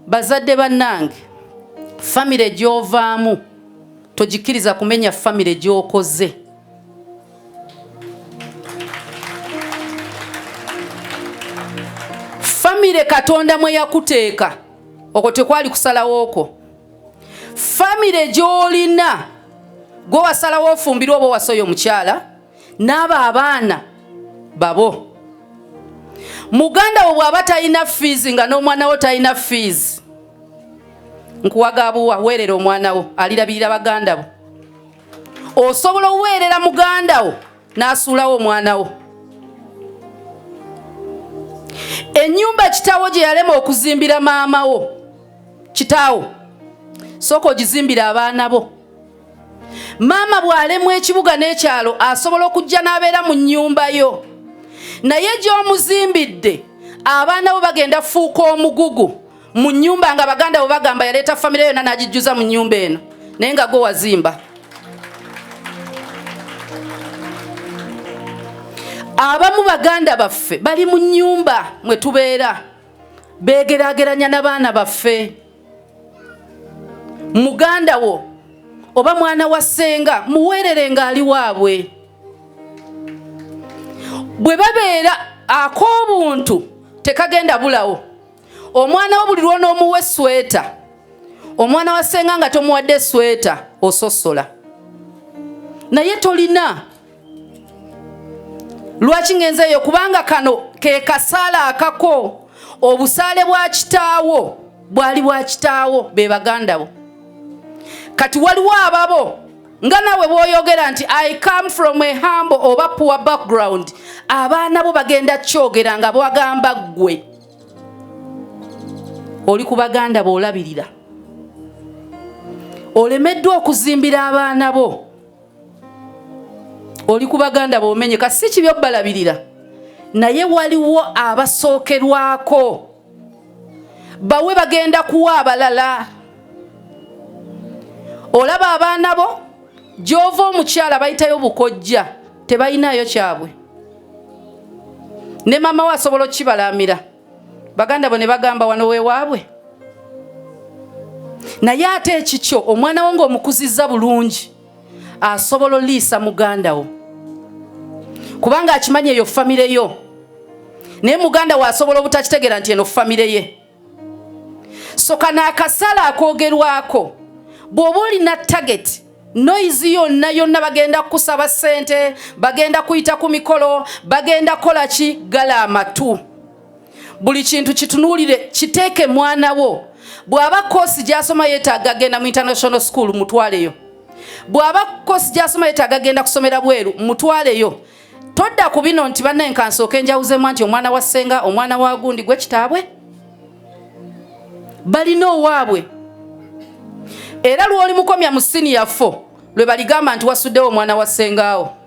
Bazadde bannange, famire gy'ovaamu togikkiriza kumenya famire gy'okoze. Famire Katonda mwe yakuteeka, okwo tekwali kusalawo kwo. Famire gy'olina gwe wasalawo ofumbirwa oba wasoya omukyala n'abo abaana babo muganda wo bw'aba talina fiizi nga n'omwana wo talina fiizi nkuwagabuwa weerera omwana wo alirabirira baganda bo osobola oweerera muganda wo n'asuulawo omwana wo ennyumba kitaawo gye yalema okuzimbira maama wo kitaawo sooka ogizimbire abaana bo maama bw'alemwa ekibuga n'ekyalo asobola okujja n'abeera mu nnyumba yo naye gy'omuzimbidde abaana bo bagenda fuuka omugugu mu nnyumba nga baganda bo bagamba yaleeta famire yonna n'agijjuza mu nnyumba eno naye nga gwe wazimba abamu baganda baffe bali mu nnyumba mwe tubeera beegeraageranya n'abaana baffe muganda wo oba mwana wa ssenga muweerere ng'ali waabwe bwe babeera ak'obuntu tekagenda bulawo omwana wo buli lwonoomuwa esweta omwana wa ssenga nga tomuwadde esweta ososola naye tolina lwaki ngenze eyo kubanga kano ke kasaala akako obusaale bwa kitaawo bwali bwa kitaawo be baganda bo kati waliwo ababo nga nawe bwoyogera nti i come from a humble oba poor background abaana bo bagenda kyogera nga bwagamba ggwe oli ku baganda boolabirira olemeddwa okuzimbira abaana bo oli ku baganda bomenye kasi si kibi obalabirira naye waliwo abasookerwako bawe bagenda kuwa abalala olaba abaana bo gy'ova omukyala bayitayo bukojja tebalinayo kyabwe ne maama we asobola okukibalaamira baganda bo ne bagamba wano wewaabwe naye ate ekikyo omwana wo ng'omukuzizza bulungi asobola oliisa muganda wo kubanga akimanyi eyo famire yo naye muganda wo asobola obutakitegeera nti eno famire ye so kano akasala akogerwako bw'oba olina tageti noise yonna yonna bagenda kukusaba sente bagenda kuyita ku mikolo bagenda kola ki gala amatu buli kintu kitunuulire kiteeke mwana wo bw'aba koosi gy'asoma yeetaaga agenda mu international school mutwaleyo bw'aba koosi gy'asoma yeetaaga agenda kusomera bweru mutwaleyo todda ku bino nti banne nkansooka enjawuzemu nti omwana wa ssenga omwana wa gundi gwe kitaabwe balina owaabwe era lw'olimukomya mu siniya fo lwe baligamba nti wasuddewo omwana wa ssengaawo